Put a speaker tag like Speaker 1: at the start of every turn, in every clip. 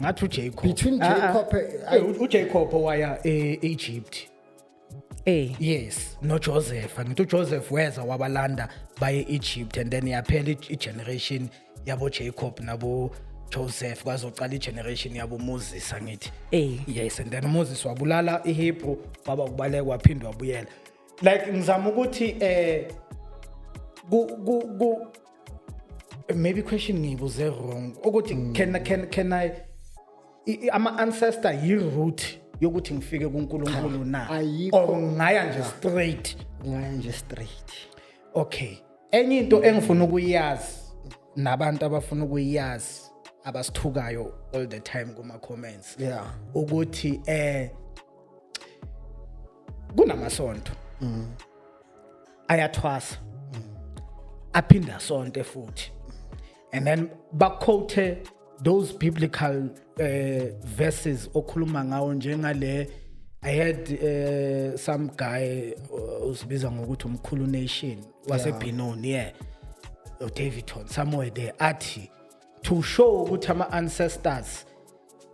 Speaker 1: ngathi uJacob between Ah, ah. Jacob eh,
Speaker 2: Eh, u- uJacob
Speaker 1: waya e-Egypt Eh. yes noJoseph ngithi uJoseph weza wabalanda baye e-Egypt and then yaphela i- i-generation yabo Jacob nabo Joseph kwazocala i-generation yabo Moses angithi Eh. yes and then Moses wabulala iHebrew waba kubaleka waphinde wabuyela like ngizama ukuthi eh ku ku ku maybe question ngiyibuze wrong ukuthi mm. can can can i ama ancestor yi root yokuthi ngifike kuNkulunkulu na or ngaya nje straight ngaya nje straight okay enye into engifuna ukuyazi nabantu abafuna ukuyazi abasithukayo all the time kuma comments yeah ukuthi eh kunamasonto mm. ayathwasa mm. aphinde asonte futhi and then baquote those biblical uh, verses okhuluma ngawo njengale I had uh, some guy uh, usibiza ngokuthi umkhulu nation waseBinoni yeah. yeah. Davidton somewhere there athi to show ukuthi ama ancestors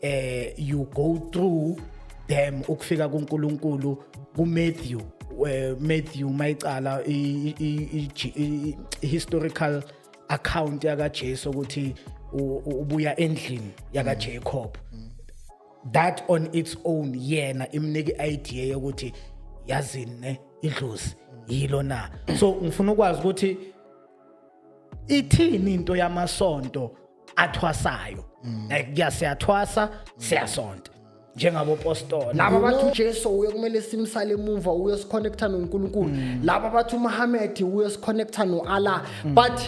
Speaker 1: eh you go through them ukufika kuNkulunkulu kuMatthew eh, Matthew mayicala historical account yaka Jesu ukuthi ubuya endlini yaka Jacob that on its own yena imnike idea yokuthi yazini ne idlozi yilo na so ngifuna ukwazi ukuthi ithini into yamasonto athwasayo mm. like kuyaseyathwasa siyasonta njengabo postoli laba bathi uJesu
Speaker 2: uye kumele simsale emuva uye siconnecta noNkulunkulu mm. laba bathi uMuhammad uye siconnecta noAllah mm. but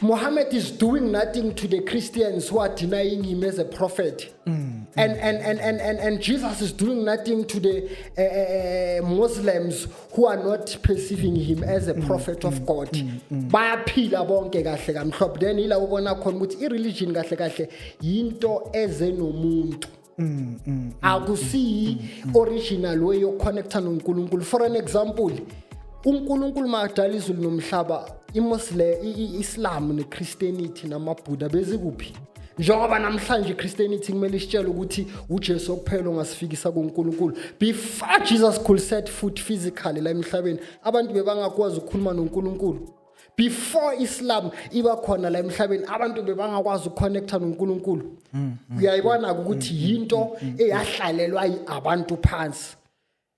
Speaker 2: Muhammad is doing nothing to the Christians who are denying him as a prophet. Mm, and, and, and, and, and, and Jesus is doing nothing to the uh, Muslims who are not perceiving him as a mm, prophet mm, of God mm, mm. bayaphila bonke kahle kamhlophe then ila ubona khona ukuthi ireligion kahle kahle yinto eze nomuntu mm, mm, akusiyi original way yokuconnecta noNkulunkulu for an example uNkulunkulu makadala izulu nomhlaba imuslim iislam nechristianity namabuddha bezikuphi njengoba namhlanje ichristianity kumele isitshele ukuthi ujesu okuphela ongasifikisa kunkulunkulu before jesus could set foot physically la emhlabeni abantu bebangakwazi ukukhuluma nonkulunkulu before islam iba khona la emhlabeni abantu bebangakwazi ukuconnecta nonkulunkulu mm, mm, uyayibona-ke mm, ukuthi yinto eyahlalelwa abantu phansi